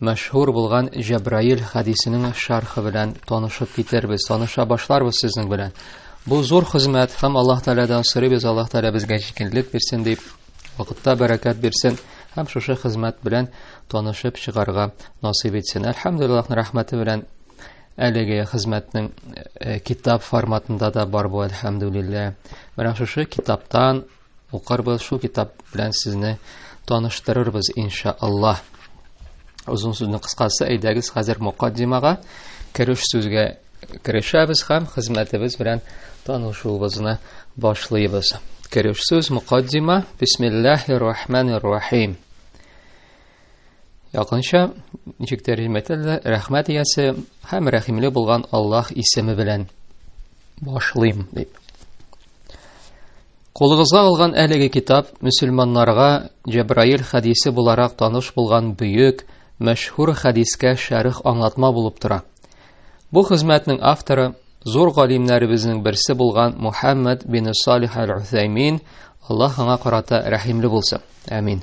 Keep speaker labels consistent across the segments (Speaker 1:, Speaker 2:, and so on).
Speaker 1: мәшһүр булган Җәбраил хәдисенең шәрхе белән танышып китербез, таныша башларбыз сезнең белән. Бу зур хезмәт һәм Аллаһ Тәгаләдән сорыйбыз, Аллаһ Тәгалә безгә җиңеллек бирсен дип, вакытта бәрәкәт бирсен һәм шушы хезмәт белән танышып чыгарга насыйп итсен. Әлхәмдулиллаһның рәхмәте белән әлеге хезмәтнең э, китап форматында да бар бу, әлхәмдулиллаһ. Менә шушы китаптан Укарбыз шул китап белән сезне таныштырырбыз иншааллаһ. Озын сүзнең кыскасы, әйдәгез хәзер мукаддимага кереш сүзгә керешәбез һәм хезмәтебез белән танышуыбызны башлыйбыз. Кереш сүз мукаддима. Бисмиллаһир рахманир рахим. Якынча ничек тәрҗемә ителде? Рәхмәт иясе һәм рәхимле булган Аллаһ исеме белән башлыйм дип. Кулыгызга алган әлеге китап мөселманнарга Җәбраил хәдисе буларак таныш булган бөек, мәшһүр хәдискә шәрх аңлатма булып тора. Бу хезмәтнең авторы зур галимнәребезнең берсе булган Мухаммад бин Салих аль-Усаймин, Аллаһ аңа карата рәхимле булсын. Амин.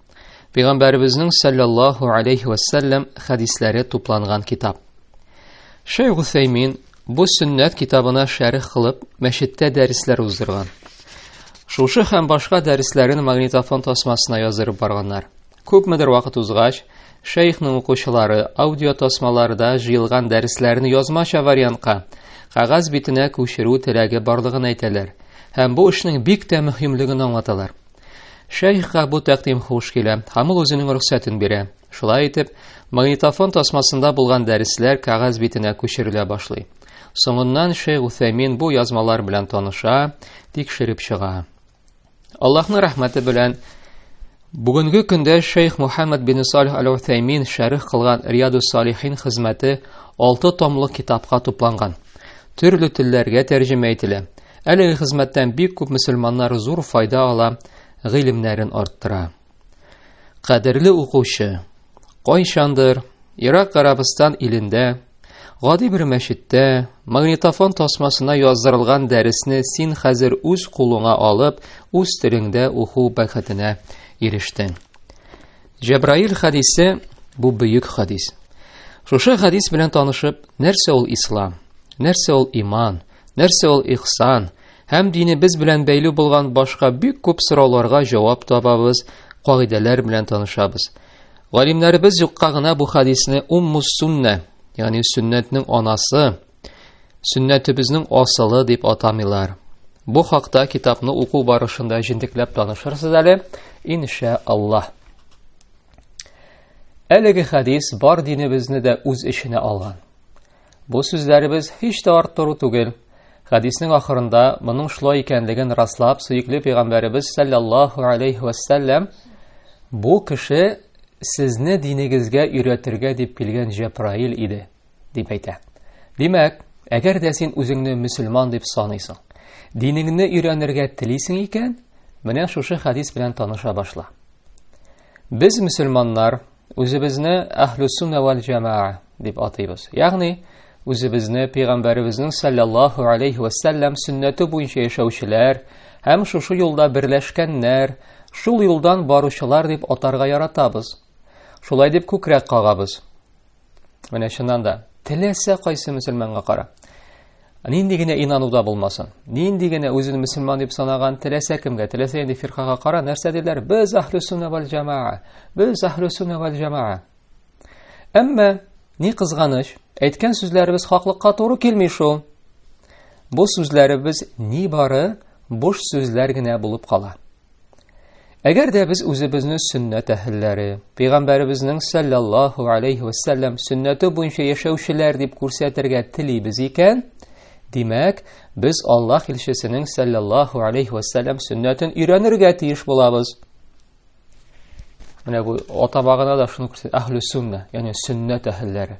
Speaker 1: Пәйгамбәребезнең саллаллаху алейхи ва саллям хадисләре тупланган китап. Шейх Усаймин бу сөннәт китабына шәрх кылып, мәчеттә дәресләр уздырган. Шушы һәм башка дәресләрен магнитофон тасмасына язырып барганнар. Күпмедер вакыт узгач, шейхның укучылары аудио тасмаларда җыелган дәресләрне язмача вариантка, кагаз битенә күчерү теләге барлыгын әйтәләр һәм бу эшнең бик тә мөһимлеген аңлаталар. Шәйхка бу тәкъдим хуш килә, һәм ул үзенең рөхсәтен бирә. Шулай итеп, магнитофон тасмасында булган дәресләр кәгазь битенә күчерелә башлый. Соңыннан Шейх Уфәмин бу язмалар белән таныша, тикшереп чыга. Аллаһның рәхмәте белән бүгенге көндә Шейх Мухаммад бин Салих аль-Уфәмин шәрих кылган Рияду Салихин хезмәте 6 томлы китапка тупланган. Төрле телләргә тәрҗемә ителә. Әлеге хезмәттән бик күп мөселманнар зур файда ала, гыйлемнәрен арттыра. Кадерле укучы, кайчандыр Ирак Гарабстан илендә гади бер мәчеттә магнитофон тасмасына яздырылган дәресне син хәзер үз кулыңа алып, үз телеңдә уку бәхетенә ирештең. Җәбраил хадисе бу бөек хадис. Шушы хадис белән танышып, нәрсә ул ислам, нәрсә ул иман, Нәрсә ул ихсан? Һәм динебез белән бәйле булган башка бик күп сорауларга җавап табабыз, кагыйдәләр белән танышабыз. Галимнәребез юкка гына бу хадисне умму сунна, ягъни сөннәтнең анасы, сөннәтебезнең асылы дип атамыйлар. Бу хакта китапны уку барышында җентекләп танышырсыз әле, инша Аллаһ. Әлеге хадис бар динебезне дә үз эченә алган. Бу сүзләребез һич тә арттыру түгел. Хәдиснең ахырында моның шулай икәнлеген раслап, сөекле пәйгамбәребез саллаллаһу алейхи вәссәләм бу кеше сезне динегезгә өйрәтергә дип килгән Җәбраил иде, дип әйтә. Димәк, әгәр дә син үзеңне мөселман дип саныйсың, динеңне өйрәнергә телисең икән, менә шушы хәдис белән таныша башла. Без мөселманнар Үзебезне Әһлүсүнә вәл җәмаа дип атыйбыз. Ягъни, үзебезне пәйгамбәребезнең саллаллаһу алейхи ва саллям сөннәте буенча яшәүчеләр һәм шушы юлда берләшкәннәр, шул юлдан баручылар дип атарга яратабыз. Шулай дип күкрәк кагабыз. Менә чыннан да, теләсә кайсы мөселманга кара. Нинди генә инануда булмасын, нинди генә үзен мөселман дип санаган теләсә кемгә, теләсә нинди фиркага кара, нәрсә диләр? Без әһле сунна вал җамаа. Без әһле сунна вал җамаа. Әмма ни кызганыч, әйткән сүзләребез хаклыкка туры килми шул. Бу сүзләребез ни бары буш сүзләр генә булып кала. Әгәр дә без үзебезне сөннәт әһелләре, пәйгамбәребезнең саллаллаһу алейхи ва саллям сөннәте буенча яшәүчеләр дип күрсәтергә телибез икән, димәк, без Аллаһ илчесенең саллаллаһу алейхи ва саллям сөннәтен өйрәнергә тиеш булабыз. Менә бу атамагына да шуны күрсәтә, әһле сөннә, ягъни сөннәт әһелләре.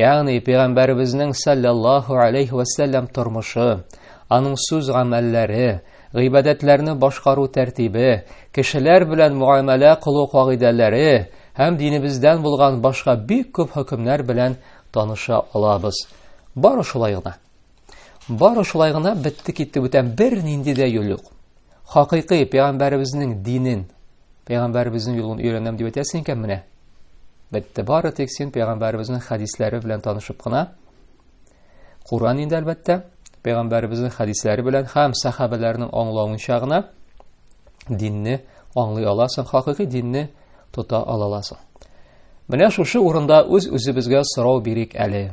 Speaker 1: Ягъни пәйгамбәребезнең саллаллаһу алейхи ва саллям тормышы, аның сүз гамәлләре, гыйбадәтләрне башкару тәртибе, кешеләр белән муамәлә кылу кагыйдәләре һәм динебездән булган башка бик күп хөкемнәр белән таныша алабыз. Бары шулай гына. Бары шулай гына бетте китте бүтән бернинди дә юл юк. Хакыйкый пәйгамбәребезнең динен, пәйгамбәребезнең юлын өйрәнәм дип әйтәсең икән менә. Бетте бары тик син пәйгамбәребезнең хәдисләре белән танышып кына. Куран инде әлбәттә, пәйгамбәребезнең хәдисләре белән һәм сахабәләрнең аңлавынча гына динне аңлый аласың, хакыйкый динне тота аласың. Менә шушы урында үз-үзебезгә сорау бирик әле.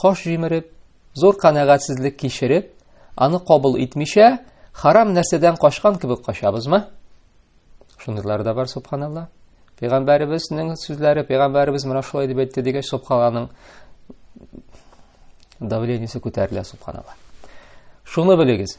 Speaker 1: Каш җимереп, зур канәгатьсезлек кичереп, аны кабул итмичә, харам нәрсәдән качкан кебек качабызмы? Шундыйлар да бар, субханалла. Пәйгамбәребезнең сүзләре, пәйгамбәребез менә шулай дип әйтте дигәч, субхананың давлениесе күтәрелә, субханалла. Шуны белегез,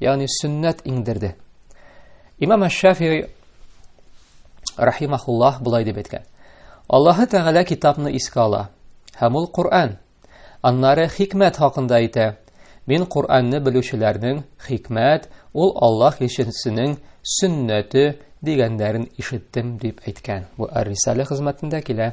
Speaker 1: ягъни сөннәт иңдерде. Имам Аш-Шафии рахимахуллаһ булай дип әйткән. Аллаһы Тәгалә китапны искә ала, һәм ул Коръән. Аннары хикмәт хакында әйтә. Мин Коръәнне белүчеләрнең хикмәт, ул Аллаһ илчесенең сөннәте дигәннәрен ишеттем дип әйткән. Бу Ар-Рисале хезмәтендә килә.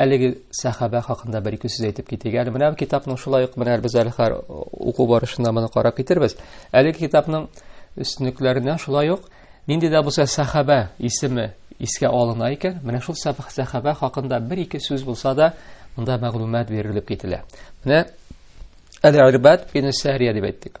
Speaker 1: Әлеге сәхабә хакында бер-ике сүз әйтеп китик. Әле менә китапның шулай ук менә без әле хәр уку барышында моны карап китербез. Әлеге китапның өстенлекләреннән шулай ук нинди дә булса сәхабә исеме искә алына икән, менә шул сәхабә хакында бер-ике сүз булса да, монда мәгълүмат бирелеп кителә. Менә Әл-Ирбад бин Сәрия дип әйттек.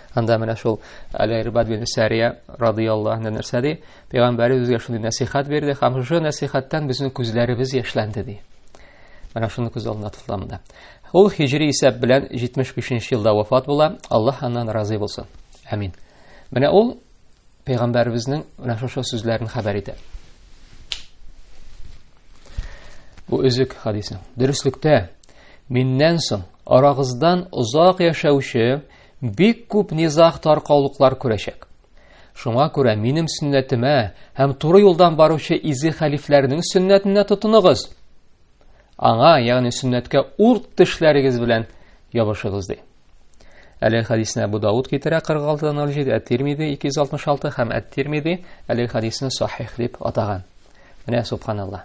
Speaker 1: Анда менә шул Аль-Ирбад бин Сәрия радияллаһу анһу нәрсә ди? Пәйгамбәр үзгә шундый нәсихат бирде, һәм шушы нәсихаттан безнең күзләребез яшьләнде ди. Менә шуны күз алдына тотыла монда. Ул хиҗри исәп белән 75 елда вафат була. Аллаһ аннан разый булсын. Амин. Менә ул пәйгамбәребезнең менә шушы сүзләрен хәбәр итә. Бу үзек хадисның. Дөреслектә миннән соң арагыздан озак яшәүче Бик күп низах таркаулыклар күрәчәк. Шуңа күрә минем сөннәтемә һәм туры юлдан баручы изе хәлифләрнең сөннәтенә тотыныгыз. Аңа, ягъни сөннәткә урт тешләрегез белән ябышыгыз ди. Әле хадисне Абу Дауд китерә 46-07, Әт-Тирмизи 266 һәм Әт-Тирмизи әле хадисны сахих дип атаган. Менә субханалла.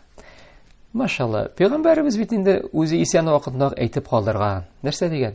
Speaker 1: Машалла, пәйгамбәребез бит инде үзе исән вакытында әйтеп калдырган. Нәрсә дигән?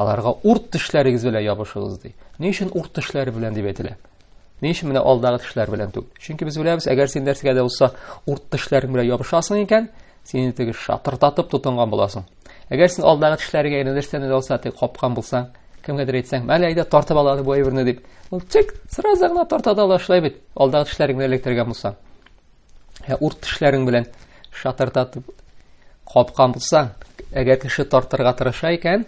Speaker 1: Аларга урт тешләрегез белән ябышыгыз ди. Ни өчен урт тешләре белән дип әйтелә? Ни өчен менә алдагы тешләр белән түгел? Чөнки без беләбез, әгәр син нәрсәгә дә булса урт тешләрең белән ябышасың икән, сине теге шатыртатып тотынган буласың. Әгәр син алдагы тешләрегә генә нәрсәне дә булса теге капкан булсаң, кемгәдер әйтсәң, мәле әйдә тартып алады бу әйберне дип. Ул чик, сразу гына тарта да алашлай бит, алдагы тешләреңне электергән булсаң. Ә урт тешләрең белән шатырдатып капкан булсаң, әгәр кеше тартырга тырыша икән,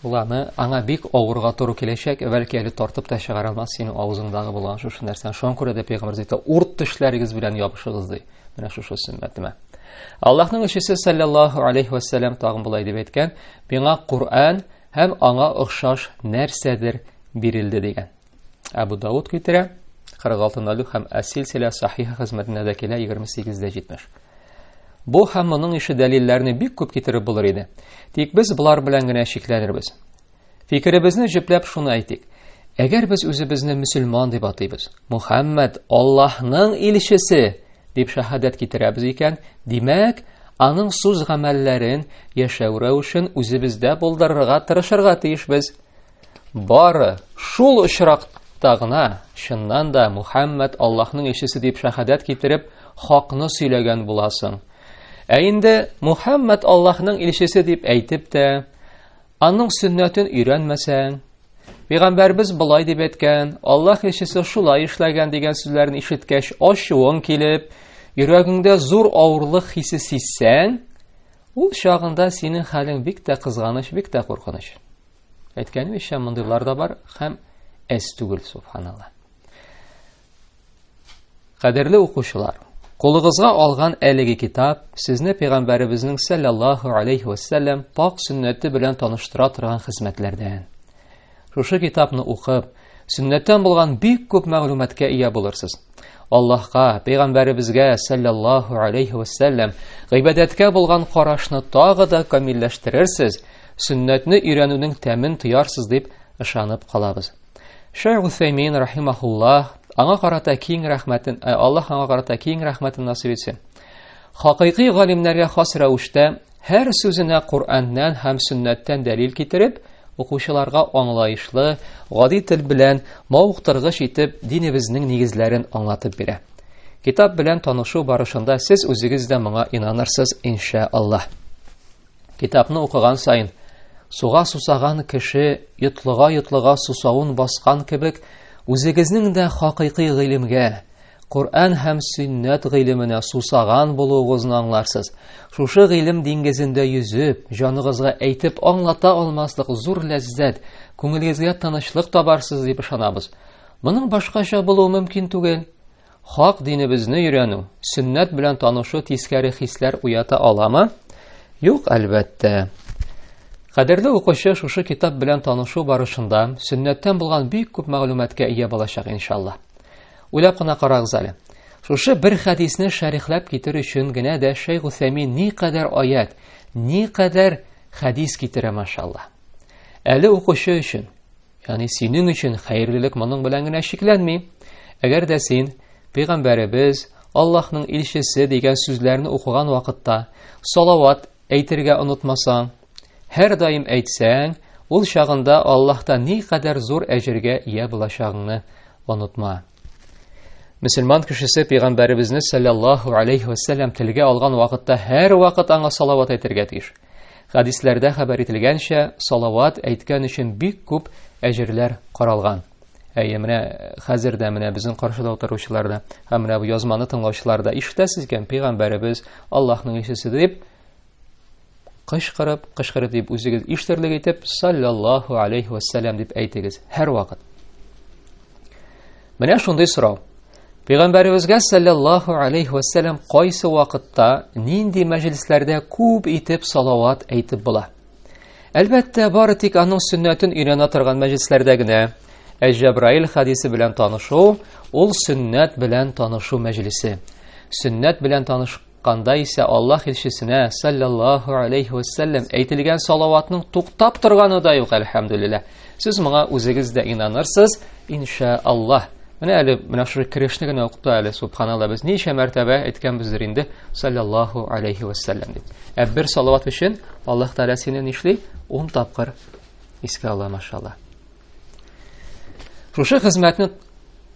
Speaker 1: ул аны аңа бик авырга туры киләчәк, бәлки әле тартып та чыгара алмас синең авызыңдагы булган шушы нәрсәне. Шуңа күрә дә пәйгамбер диде, урт тешләрегез белән ябышыгыз ди. Менә шушы сөннәтемә. Аллаһның илчесе саллаллаһу алейхи ва саллям тагын болай дип әйткән, "Миңа Куръан һәм аңа охшаш нәрсәдер бирелде" дигән. Әбу Дауд китерә 46.0 һәм Әсилсилә сахиха хезмәтендә дә килә 28.70. Бу һәм моның ише дәлилләрне бик күп китереп булыр иде. Тик без болар белән генә чикләнербез. Фикеребезне җөпләп шуны әйтик. Әгәр без үзебезне мөселман дип атыйбыз, Мухаммад Аллаһның илчесе дип шәһадәт китерәбез икән, димәк, аның сүз гамәлләрен яшәү рәвешен үзебездә булдырырга тырышырга тиешбез. Бары шул очракта гына, чыннан да, Мухәммәд Аллаһның илчесе дип шәһадәт китереп, хакны сөйләгән буласың. Ә инде Мухәммәд Аллаһның илчесе дип әйтеп тә, аның сөннәтен өйрәнмәсәң, Пәйгамбәрбез болай дип әйткән, Аллаһ илчесе шулай эшләгән дигән сүзләрне ишеткәч, ачуың килеп, йөрәгеңдә зур авырлык хисе сизсәң, ул чагында синең хәлең бик тә кызганыч, бик тә куркыныч. Әйткәнемчә, мондыйлар да бар һәм әз түгел, субханалла. Кадерле укучылар, Кулыгызга алган әлеге китап сезне пәйгамбәребезнең саллаллаһу алейхи ва саллям пак сөннәте белән таныштыра торган хезмәтләрдән. Шушы китапны укып, Сөннәттән булган бик күп мәгълүматка ия булырсыз. Аллаһка, пәйгамбәребезгә саллаллаһу алейхи ва саллям гыйбадәткә булган карашны тагы да камилләштерерсез, сөннәтне өйрәнүнең тәмен тоярсыз дип ышанып калабыз. Шәйх Усәймин рахимахуллаһ аңа карата киң рәхмәтен, э, Аллаһ аңа карата киң рәхмәтен насыйп итсен. Хакыйкый галимнәргә хас рәвештә Һәр сүзенә Коръәннән һәм сөннәттән дәлил китереп, укучыларга аңлаешлы, гади тел белән мавыктыргыч итеп динебезнең нигезләрен аңлатып бирә. Китап белән танышу барышында сез үзегез дә моңа инанырсыз, инша Аллаһ. Китапны укыган саен суга сусаган кеше йотлыга-йотлыга сусавын баскан кебек, үзегезнең дә хакыйкый гыйлемгә, Коръән һәм сөннәт гыйлеменә сусаган булуыгызны аңларсыз. Шушы гыйлем диңгезендә йөзеп, җаныгызга әйтеп аңлата алмаслык зур ләззәт, күңелегезгә тынычлык табарсыз дип ышанабыз. Моның башкача булуы мөмкин түгел. Хак динебезне өйрәнү, сөннәт белән танышу тискәре хисләр уята аламы? Юк, әлбәттә. Кадерле укучы шушы китап белән танышу барышында сөннәттән булган бик күп мәгълүматка ия булачак иншалла. Уйлап кына карагыз әле. Шушы бер хәдисне шәрехләп китер өчен генә дә Шәйх Усәймин ни кадәр аят, ни кадәр хәдис китерә машалла. Әле укучы өчен, ягъни синең өчен хәерлелек моның белән генә чикләнми. Әгәр дә син пәйгамбәребез, Аллаһның илчесе дигән сүзләрне укыган вакытта салават Әйтергә онытмасаң, һәрдаим әйтсәң, ул чагында Аллаһта никадәр зур әҗергә ия булачагыңны онытма. Мөселман кешесе пәйгамбәребезне саллаллаһу алейхи ва саллям телгә алган вакытта һәр вакыт аңа салават әйтергә тиеш. Хадисләрдә хәбәр ителгәнчә, салават әйткән өчен бик күп әҗерләр каралган. Әйе, менә хәзер дә менә безнең каршыда утыручылар да, һәм менә бу язманы тыңлаучылар да ишетәсез икән, пәйгамбәребез Аллаһның илчесе дип кычкырып, кычкырып дип үзегез ишетерлек итеп саллаллаһу алейхи вассалам дип әйтегез һәр вакыт. Менә шундый сорау. Пәйгамбәребезгә саллаллаһу алейхи вассалам кайсы вакытта, нинди мәҗлисләрдә күп итеп салават әйтеп була? Әлбәттә, бары тик аның сөннәтен өйрәнә торган мәҗлесләрдә генә ә Җәбраил хадисе белән танышу ул сөннәт белән танышу мәҗлесе. Сөннәт белән танышканда исә Аллаһ илчесенә саллаллаһу алейхи ва саллям әйтелгән салаватның туктап торганы да юк, әлхәмдүлилләһ. Сез моңа үзегез дә инанырсыз, инша Аллаһ. Менә әле менә шул керешне генә укып та әле, субханалла, без ничә мәртәбә әйткәнбездер инде, саллаллаху алейхи вәссәләм дип. Ә бер салават өчен Аллаһ Тәгалә сине нишли? 10 тапкыр искә ала, машалла. Шушы хезмәтне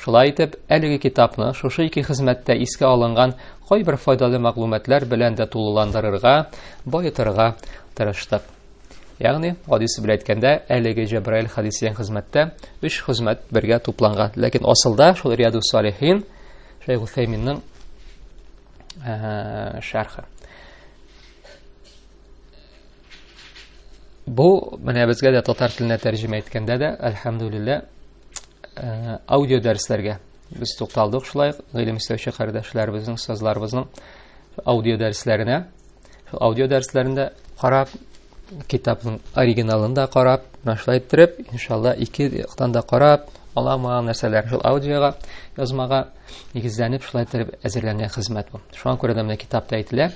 Speaker 1: Шулай итеп, әлеге китапны шушы ике хезмәттә искә алынган кайбер файдалы мәгълүматлар белән дә тулыландырырга, баетырга тырыштык. Ягъни, гадисе белән әйткәндә, әлеге Җәбраил хадис дигән хезмәттә өч хезмәт бергә тупланган. Ләкин асылда шул Риаду Салихин Шәйх Усәйминнең шәрхе. Бу менә безгә дә татар теленә тәрҗемә иткәндә дә, әлхәмдүлиллә, э, аудио дәресләргә без тукталдык шулай гыйлем эстәүче кардәшләребезнең, остазларыбызның аудио дәресләренә. Шул аудио дәресләрендә карап, китапның оригиналын да карап, менә шулай иттереп, иншалла, ике яктан да карап, аламаган нәрсәләр шул аудиога, язмага нигезләнеп шулай иттереп әзерләнгән хезмәт бу. Шуңа күрә дә менә китапта әйтелә.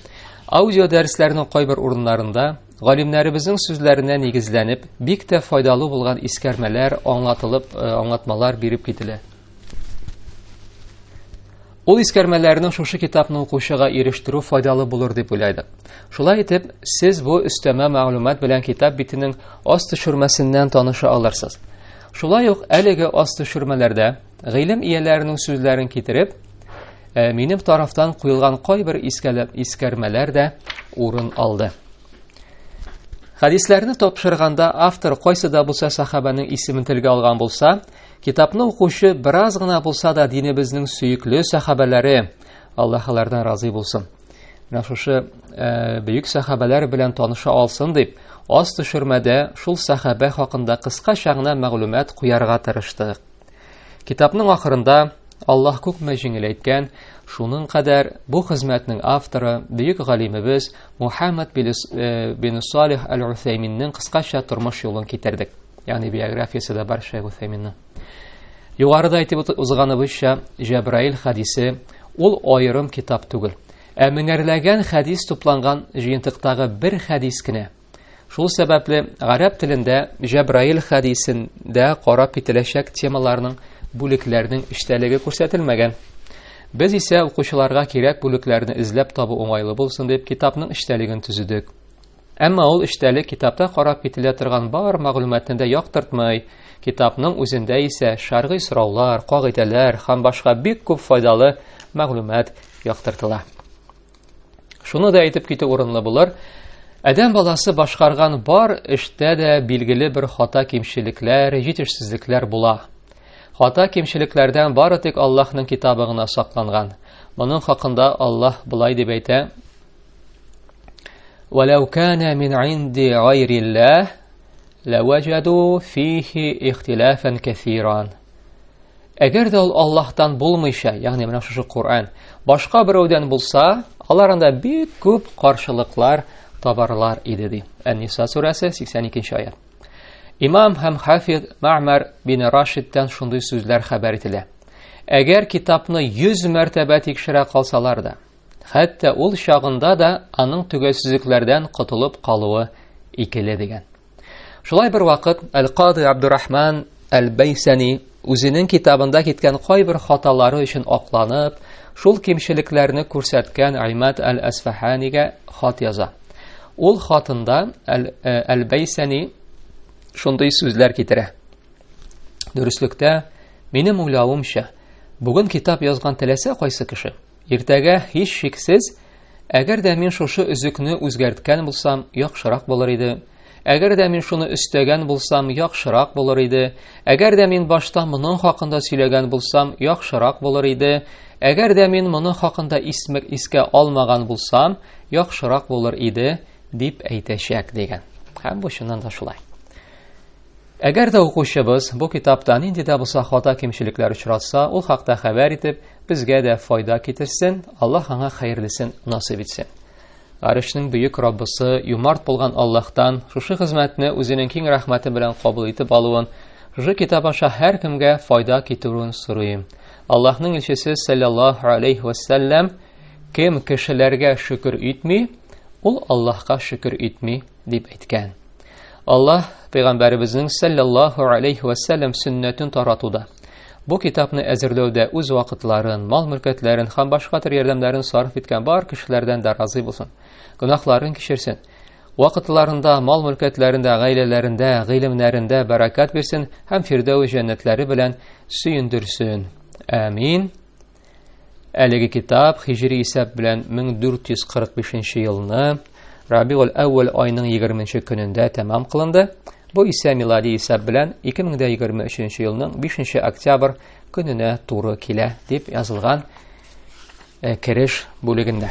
Speaker 1: Аудио дәресләрнең кайбер урыннарында галимнәребезнең сүзләренә нигезләнеп, бик тә файдалы булган искәрмәләр, аңлатылып, э, аңлатмалар биреп кителә. Ул искәрмәләрне шушы китапны укучыга ирештерү файдалы булыр дип уйлады. Шулай итеп, сез бу өстәмә мәгълүмат белән китап битенең аст төшермәсеннән таныша алырсыз. Шулай ук әлеге аст төшермәләрдә Гыйлем ияләренең сүзләрен китереп, э, минем тарафтан куелган кайбер искәләп искәрмәләр дә урын алды. Хәдисләрне тапшырганда автор кайсы да булса сахабаның исемен телгә алган булса, китапны укучы бераз гына булса да динебезнең сөекле сахабалары, Аллаһ алардан разый булсын. Менә шушы э, бөек сахабалар белән таныша алсын дип, аз төшермәдә шул сахабә хакында кыскача гына мәгълүмат куярга тырыштык. Китапның ахырында Аллаһ күпме җиңел әйткән, шуның кадәр бу хезмәтнең авторы, бөек галимебез Мухаммад бин э, Салих әл-Усәйминнең кыскача тормыш юлын китердек. Ягъни биографиясе дә бар Шәйх Усәйминнең. Югарыда әйтеп узганыбызча, Җәбраил хадисе ул аерым китап түгел, ә меңәрләгән хәдис тупланган җыентыктагы бер хәдис кенә – Шул сәбәпле гарәп телендә Җәбраил хәдисендә карап кителәчәк темаларның бүлекләрнең эчтәлеге күрсәтелмәгән. Без исә укучыларга кирәк бүлекләрне эзләп табу уңайлы булсын дип китапның эчтәлеген төзедек. Әмма ул эчтәлек китапта карап кителә торган бар мәгълүматны да яктыртмый. Китапның үзендә исә шәргый сораулар, кагыйдәләр һәм башка бик күп файдалы мәгълүмат яктыртыла. Шуны да әйтеп китү урынлы булыр, Адәм баласы башкарган бар эштә дә билгеле бер хата кимчелекләр, җитешсезлекләр була. Хата кимчелекләрдән бары тик Аллаһның китабы гына сакланган. Моның хакында Аллаһ былай дип әйтә: "Валау кана мин инди гайриллаһ лаважаду фихи ихтилафан кафиран". Әгәр дә ул Аллаһтан булмыйча, ягъни менә шушы Коръән, башка берәүдән булса, алар анда бик күп каршылыклар табарлар иде ди. Ән-Ниса сүрәсе 82-нче аят. Имам һәм хафиз Маъмар бин Рашидтан шундый сүзләр хәбәр ителә. Әгәр китапны 100 мәртәбә тикшерә калсалар да, хәтта ул чагында да аның төгәлсезлекләрдән котылып калуы икеле дигән. Шулай бер вакыт Әл-Кады Абдурахман Әл-Бәйсәни үзенең китабында киткән кайбер хаталары өчен акланып, шул кимчелекләрне күрсәткән Аймат Әл-Әсфаханигә хат яза. Ул хатында Әл-Бәйсәни э, шундый сүзләр китерә. Дөреслекдә, минем уйлавымча, бүген китап язган теләсә кайсы кеше, Иртәгә һич шиксез, әгәр дә мин шушы өзекне үзгәрткән булсам, яхшырак булыр иде. Әгәр дә мин шуны өстәгән булсам, яхшырак булыр иде. Әгәр дә мин башта моның хакында сөйләгән булсам, яхшырак булыр иде. Әгәр дә мин моның хакында исмек искә алмаган булсам, яхшырак булыр иде, дип әйтәчәк дигән. Һәм бу чыннан да шулай. Әгәр дә укучыбыз бу китапта нинди дә булса хата-кимчелекләр очратса, ул хакта хәбәр итеп, безгә дә файда китерсен, Аллаһ аңа хәерлесен насыйп итсен. Арышның бөек Раббысы, юмарт булган Аллаһтан шушы хезмәтне үзенең киң рәхмәте белән кабул итеп алуын, шушы китап аша һәркемгә файда китерүен сорыйм. Аллаһның илчесе саллаллаһу алейхи ва саллям кем кешеләргә шөкер итми, ул Аллаһка шөкер итми дип әйткән. Аллаһ пәйгамбәребезнең саллаллаһу алейхи ва саллям сөннәтен таратуда, бу китапны әзерләүдә үз вакытларын, мал-мөлкәтләрен һәм башка төр ярдәмнәрен сарыф иткән бар кешеләрдән дә разый булсын. Гөнаһларын кичерсен. Вакытларында, мал-мөлкәтләрендә, гаиләләрендә, гыйлемнәрендә бәракәт бирсен һәм фирдәүс җәннәтләре белән сөендерсен. Амин. Әлеге китап хижри исәп белән 1445 елны Рабиул әүвәл айының 20 көнендә тәмам кылынды. Бу исә милади исәп белән 2023 елның 5 октябрь көненә туры килә, дип язылган э, кереш бүлегендә.